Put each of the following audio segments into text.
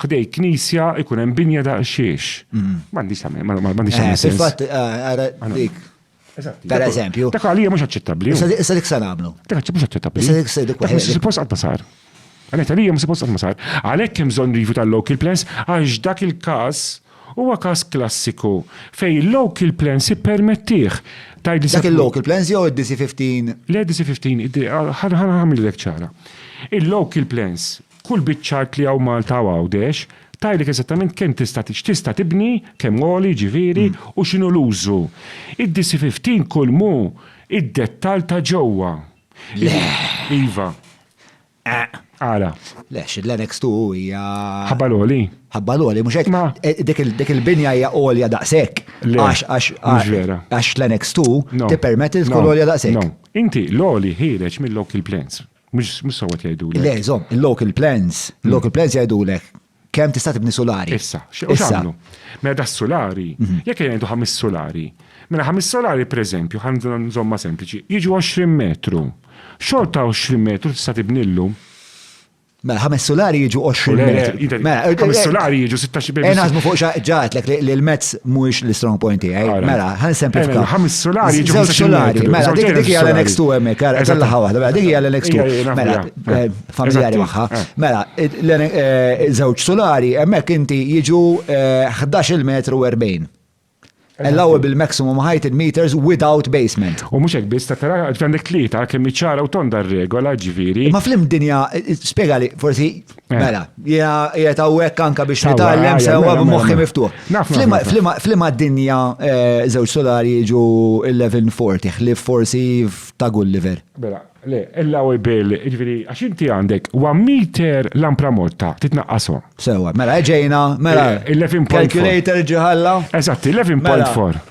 ħdej knisja ikun hemm binja daqsxiex. Mm. M'għandix tagħmel, m'għandix tagħmel. Eh, fil-fatt, eh, ara dik. Per eżempju. Dak għalija mhux aċċettabbli. Issa dik se nagħmlu. Dak mhux aċċettabbli. Issa dik se dik. Dak mhux suppost qatt sar. Għanet għalija mhux suppost qatt sar. Għalhekk hemm bżonn review tal-local plans għax dak il-każ huwa każ klassiku fej local plans ippermettih Dak il-local plans jew id-DC-15? Le DC-15, ħanħamil ċara. Il-local plans Kull biċċa art li hawn Malta u Għawdex tgħidlek eżattament kemm tista' x'tista' tibni, kemm għoli jiġifieri, u x'inhu l-użu. Id-DC 15 kull m'hu id-dettall ta' ġewwa. Le! Iva. Eq. Għala? Le, xi l-Annex Two hija. Ħabba l-għoli? Ħabba l-għoli, mhux hekk? Ma. Dik il-binja hija għolja daqshekk. Le. Għax, għax, Mhux vera. għax l-Annex Two No. tippermetti li tkun No. għolja daqshekk. No. Inti l-għoli ħiereġ mill-local plans. Mux sawat jajdu l Le, zom, il-local plans, il-local hmm. plans jajdu l kem tista' tibni solari. Issa, xamlu. Mela da solari, mhm. jekk jgħidu ħamis solari. Mela ħamis solari, per eżempju, ħanżon zomma sempliċi, jiġu 20 metru. Xol ta' 20 metru tista' tibnillu. Mela, ħames solari jiġu 20 metru. Mela, ħames eh, eh, solari jiġu 16 metru. Enażmu fuq ġatlek li l-mezz mhuwiex l-strong point tiegħi. Mela, ħan semplifika. Ħames solari, ġewx solari. Mela, dik dik hija l-next to hemmhekk, ara kellha waħda, mela dik hija l-next to. Mela, eh, familjari magħha. Eh. Mela, eh, żewġ solari hemmhekk inti jiġu 11 metru 40 allowable maximum height in meters without basement. U mhux hekk biss ta' tara għandek tlieta kemm iċara u tonda r-regola ġifieri. Ma flim dinja spjegali forsi Eh. Mela, jgħet għawek anka biex nitallem sewa b'moħħi miftuħ. Flima d-dinja eh, zewġ solari ġu 1140, ħlif forsi ta' Gulliver. Mela, le, illa u bil, ġviri, għax inti għandek, wa meter lampra morta, titnaqqasu. Sewa, mela, ġejna, mela, eh, calculator ġiħalla. Eżatt, 11.4. Mela,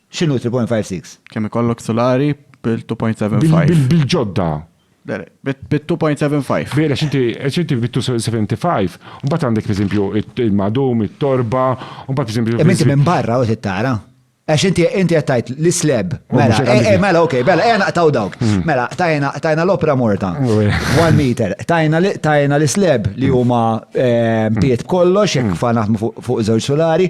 X'inhu 3.56? Kemm ikollok sulari bil-2.75? Bil-ġodda. Bit-2.75. Vera, x'inti, x'inti bit-2.75, mbagħad għandek pereżempju il-madum, it-torba, u mbagħad pereżempju. Imma inti minn barra u tittara. Għax inti inti qed tgħid l-isleb. Mela, eh, eh, mela, ok, mela, ejja naqtaw dawk. Hmm. Mela, tajna tajna l-opra morta. One meter. Tajna tajna l-isleb li hmm. huma eh, hmm. piet b'kollox, jekk fa naħdmu fuq żewġ solari,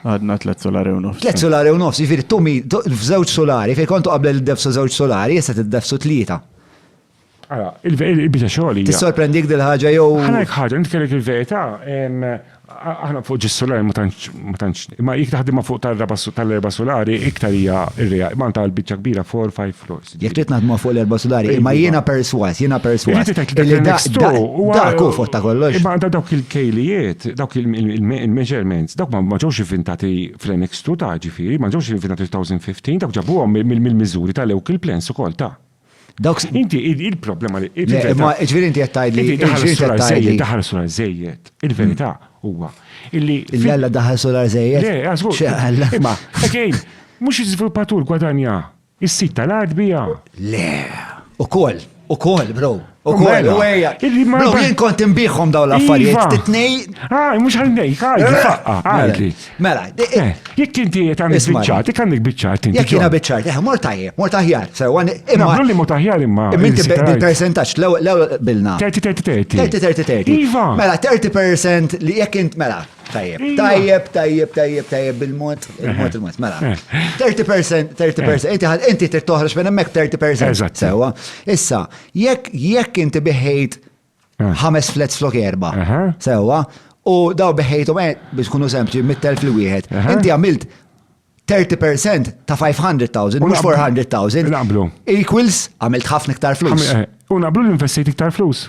Għadna tlet solari u nofs. Tlet solari u nofs, ġifiri tu mi, f'żewġ solari, fej kontu qabel id-defsu żewġ solari, jessa t-defsu tlieta. Għala, il-bita xogħol. Tissorprendik dil-ħaġa jew. Għalek ħaġa, nitkellek il-verità, aħna fuq ġis solari ma tantx, ma jik taħdimha fuq tal-raba tal-erba solari iktar hija ir-reja, ma tal-biċċa kbira 4-5 floors. Jekk trid naħdmu fuq l-erba' sudari, imma jiena perswas, jiena perswas. Illi dak u fuq ta' kollox. Imma għandha dawk il-kejlijiet, dawk il-measurements, dawk ma ġewx inventati fl-annex tu ta' ġifieri, ma ġewx inventati 2015, dawk ġabuhom mill-miżuri ta' lew il-plans ukoll ta'. Dawk inti il-problema li. Imma ġifieri inti qed tgħidli. Daħal sular żejjed. Il-verità huwa illi. L-alla daħal sular żejjed. Le, għażgur. Imma, again, mhux iżviluppatur gwadanja. Is-sit tal-art bija? Le, ukoll, ukoll, bro. Ukoll, u għeja. Bro, jien kont imbiħom daw l-affarijiet. Iva. Titnej. Ah, mux għal-nej, għadli, eh, faqqa, eh, għadli. Mela, eh, eh, jek inti jek għandek bicċat, jek għandek bicċat. Jek jina bicċat, eh, mortajje, mortajjar. Imma, li mortajjar imma. Minti bil-percentaċ, l-ew bilna. 30-30-30. Iva. Mela, 30% li jek int, mela, Tajjeb, iva. tajjeb, tajjeb, tajjeb, tajjeb bil-mod, il-mod, il-mod, mela. 30%, 30%, inti ħad, inti trid toħroġ minn hemmhekk 30%. Eżatt. Sewa. Issa, jekk jekk inti biħejt eh. ħames flats flok erba. Sewa, u daw biħejthom eh, biex kunu sempliċi mit-telf li wieħed. Inti għamilt 30% ta' 500,000, mux 400,000. Naqblu. Equals, għamilt ħafna iktar flus. Eh, u naqblu l-investiti iktar flus.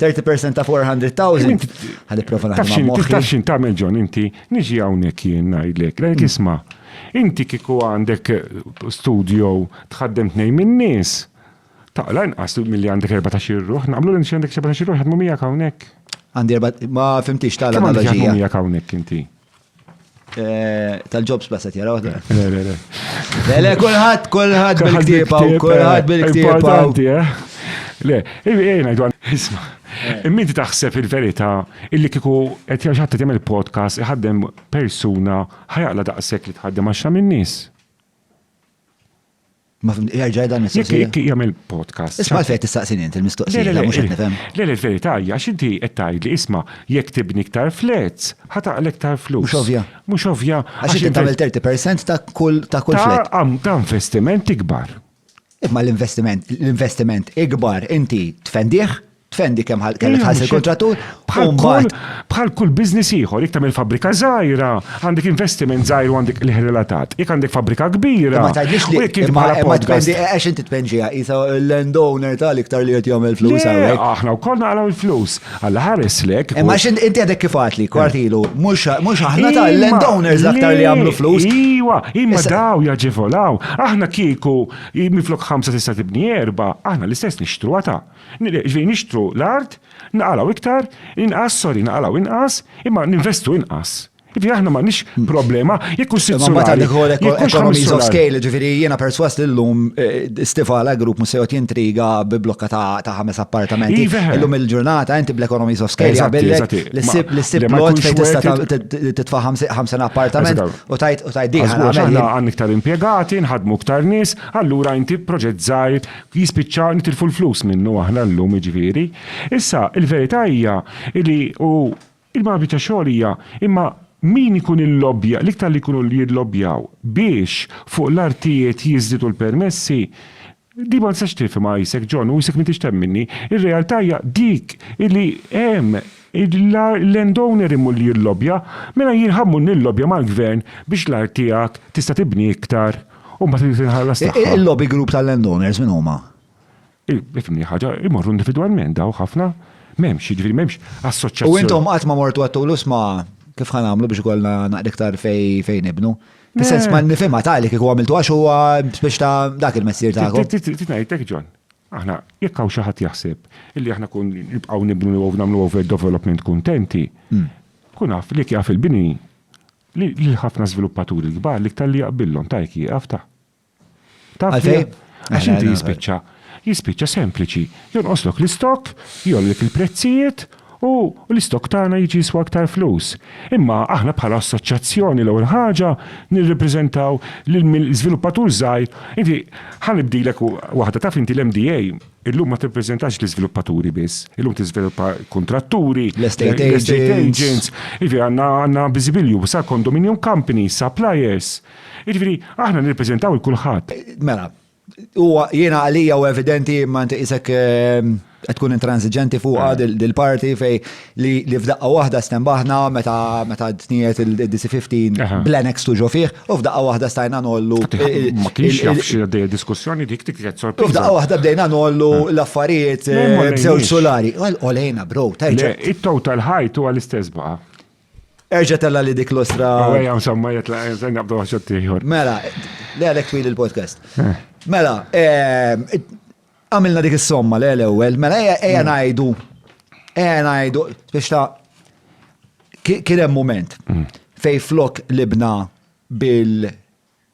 30% ta' 400,000. Għalli prova naħdem ma' moħħi. Tafxin ta' John, inti niġi hawnhekk jien ngħidlek, lejk isma'. Inti kieku għandek studio tħaddem tnejn min-nies, taqla inqas milli għandek 14 irruħ, naqblu li għandek 14 irruħ jaħdmu miegħek hawnhekk. Għandi erba' ma fimtix tagħla analoġija. Miegħek hawnhekk inti. Eh, tal-jobs basa tjara għadda. Le, le, le. Le, le, kullħat, kullħat bil-ktiba, kullħat eh, bil-ktiba. Importanti, eh? Le, jgħina dwan, isma. Eh. Minti taħseb il-verita illi kiku qed jaġħatta tagħmel podcast iħaddem persuna ħajaqla daqshekk li tħaddem għaxra min-nies. Ma fim, jerġa' jgħidha mistoqsija. Jekk jagħmel podcast. Isma' fejn tistaqsini int il-mistoqsija, mhux qed nifhem. Le, le, verità hija għax inti qed tgħidli isma' jekk tibni iktar flats, ħa taqlek iktar flus. Mhux ovvja. Mhux ovvja. Għax inti tagħmel 30% ta' kull ta' kull flat. Ta' investiment ikbar. Imma l-investiment, l-investiment ikbar inti tfendih tfendi kemm ħasel kontratur. Bħal kull biznis ieħor, jekk tagħmel fabbrika żgħira, għandek investiment żgħir u għandek liħ relatat. Jekk għandek fabbrika kbira. Ma tgħidlix li jekk inti bħala podcast. Għax inti tpenġija isa l-landowner tal-iktar li qed jagħmel flus hawnhekk. Aħna wkoll naqraw il-flus. Alla ħares lek. Imma x'int inti għadek kif għatli kwartilu, mhux aħna tal-landowners aktar li jagħmlu flus. Iwa, imma daw jaġevolaw. Aħna kieku miflok ħamsa tista' tibni erba, aħna l-istess nixtru għata. Jiġifieri nixtru l-art, naqalgħu iktar, inqas, sorry, naqalgħu inqas, imma ninvestu inqas. Jiġifieri aħna m'għandniex problema, jekk hu sitt sulari, jekk hu ħames sulari. Imma mbagħad għandek ukoll economies of scale, jiġifieri jiena persważ li llum Stivala Group mhux se joqgħod jintriga bi blokka ta' ħames appartamenti. Illum il-ġurnata inti bl-economies of scale jaqbillek li ssib plot fejn tista' titfa' ħamsin appartament u tgħid din ħa nagħmel. Aħna għandna iktar impjegati, nħaddmu iktar nies, allura inti proġett żgħir jispiċċa nitilfu l-flus minnu aħna llum jiġifieri. Issa, il-verità hija li u il-ma biċċa xogħol hija imma min ikun illobbja, l-iktar li jkunu jillobbjaw biex fuq l-artijiet jiżdiedu l-permessi, din ma tistax tifhimha isek John u isek m'intix temminni, ir-realtà hija dik li hemm il-land owner immu li jillobbja, mela jien ħa mmur nillobbja mal-gvern biex l-art tiegħek tista' tibni iktar. U mbagħad irid inħallas tagħha. Il-lobby group tal-landowners minn huma? Ifimni ħaġa, imorru individwalment daw ħafna, m'hemmx, jiġifieri m'hemmx assoċjazzjoni. U intom qatt ma mortu għattulu sma kif ħan għamlu biex ikollna naqra iktar fejn ibnu. Fis-sens ma nifhimha tali kieku għamiltu għax huwa biex ta' dak il-messier tagħkom. Titnajtek John, aħna jekk hawn xi ħadd jaħseb illi aħna kun nibqgħu nibnu u nagħmlu overdevelopment kuntenti, hmm. kun naf li jaf il-bini Li lil ħafna żviluppaturi l-kbar l-iktar li jaqbillhom ta' hekk jieqaf ta'. Taf li hemm? Għax inti jispiċċa jispiċċa sempliċi, jonqoslok l-istokk, jgħollilek il-prezzijiet u l-istokk tagħna jiġi jiswa iktar flus. Imma aħna bħala assoċjazzjoni l-ewwel ħaġa nirrepreżentaw lill-żviluppatur żgħir. Inti ħa nibdilek waħda, taf inti l-MDA, Illum ma tirrepreżentax l-iżviluppaturi biss, illum tiżviluppa kuntratturi, l-estate agents, jiġifieri għandna biżibilju sa condominium companies, suppliers. Jiġifieri aħna nirrepreżentaw il-kulħadd. Mela, huwa jiena għalija u evidenti imma inti qisek qed tkun intransiġenti fuqha dil-parti fejn li f'daqqa waħda stembaħna meta meta tniet il-DC15 bl-annex tu ġo fih u f'daqqa waħda stajna nollu. Ma kienx jaf xi għaddej diskussjoni dik dik qed sorpriża. F'daqqa waħda bdejna nollu eh. l-affarijiet eh, b'żewġ solari. Olejna bro, tajġa. It-total height huwa l-istess baqa'. Erġa tella li dik l-ostra. Għajja, insomma, jitla, jenna bdu għaxot tiħor. Mela, li għalek twil il-podcast. Eh. Mela, Għamilna dik is-somma le l-ewwel, mela ejja ejja mm. ngħidu. Ejja ngħidu biex ta' kien hemm mument mm. fej flok libna bil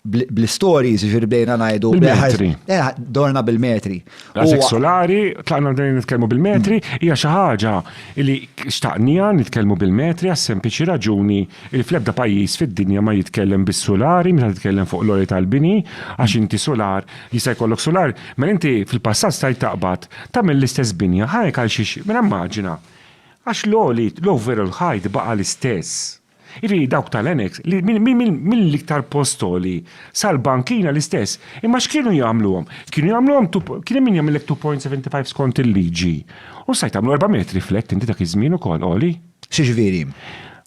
bl-stories ġir bdejna najdu. Bil-metri. Eh, dorna bil-metri. Għazek solari, tlaqna bdejna nitkelmu bil-metri, mm. hija xi ħaġa li xtaqnija nitkelmu bil-metri għas sempliċi raġuni Il fl-ebda pajjiż fid-dinja ma jitkellem bis-sulari meta titkellem fuq l-għoli tal-bini għax inti sular jista' jkollok sular mela inti fil-passat stajt taqbad tagħmel l-istess binja ħa hekk għalxiex mela immaġina għax l-għoli l-overall height baqa' l-istess. Jiġifieri dawk tal-annex li mill-iktar post għoli sal-bankina l-istess imma x'kienu jagħmluhom? Kienu jagħmluhom two kien hemm min jagħmillek 2.75 skont il-liġi u stajt tagħmlu erba' metri flat inti dak iż-żmien ukoll għoli. Xiġviri?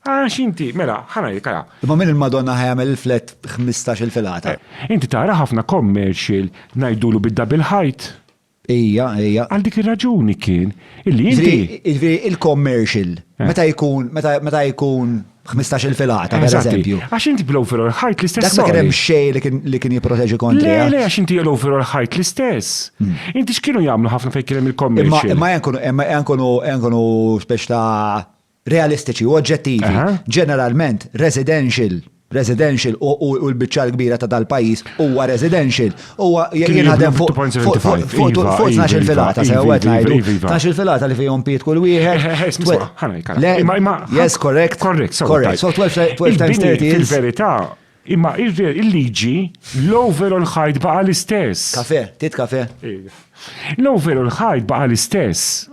Għax inti, mela, ħana jek għala. Imma minn il-Madonna ħajamel il-flet 15 il-filata. Eh, inti tara ħafna commercial najdulu bid-double height. Ija, ija. Għal dik ir-raġuni kien illi inti. Ġifieri il-commercial eh. meta jkun meta jkun 15 il-filata, per eżempju. Għax inti bl-overall height l-istess. Dak kien hemm xej li kien jipproteġi kontra. Le, le, għax inti l-overall height l-istess. Inti x'kienu jagħmlu ħafna fejn kien hemm il-commercial? Imma jankunu speċ ta' realistiċi u oġġettivi. Ġeneralment, residential, residential u l-biċċa l-kbira ta' dal-pajjiż huwa residential. Huwa jinħadem fuq il filata, se għed ngħidu. Tax il-filata li fihom piet kull wieħed. Yes, correct. Correct. So 12 times 30 is. Fil-verità, Imma ir-re, il-liġi, low veru l-ħajt baqa' l-istess. Kafè, trid kafè? Iva. Low veru l-ħajt baqa' l-istess.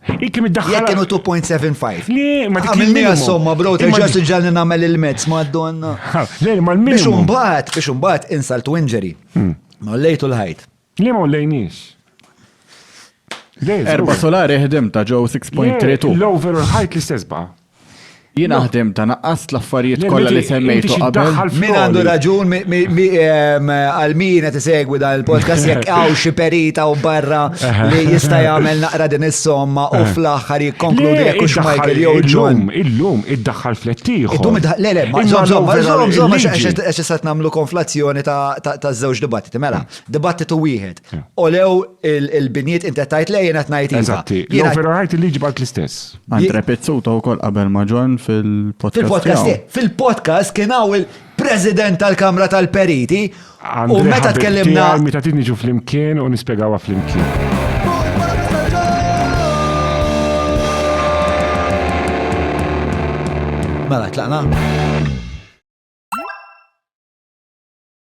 Hi kemm iddaħħalha. Jekk kienu 2.75. Le, ma dik il-minimum. Għamilni għas-somma, bro, terġa' tiġġalni nagħmel il-mezz, madonna. Le, ma l-minimum. Biex imbagħad, biex imbagħad insult u injury. Ma lejtu l-ħajt. Le ma lejniex. Erba solari ħdim ta' ġew 6.32. L-overall height l-istess baqa. Jien ħdim ta' naqqas l-affarijiet kollha li semmejtu qabel. Min għandu raġun għal min qed isegwi dan il-podcast jekk hawn xi perita u barra li jista' jagħmel naqra din is-somma u fl-aħħar jikkonkludi jekk hux Michael jew John. Illum iddaħħal flettieħ. Illum iddaħħal le le ma żomm żomm żomm żomm għax issa nagħmlu konflazzjoni ta' żewġ dibattiti mela. dibattitu wieħed. Olew il-biniet inti tajt lej jena tnajt iva. Eżatti, jew vera ħajt il-liġi balt l-istess. Andre Pizzuta u kol qabel maġon fil-podcast. Fil-podcast, eh, fil-podcast kien għaw il-president tal-Kamra tal-Periti. U meta tkellimna. Meta tinniġu fl-imkien u nispiegawa fl-imkien. Mela, tlaqna.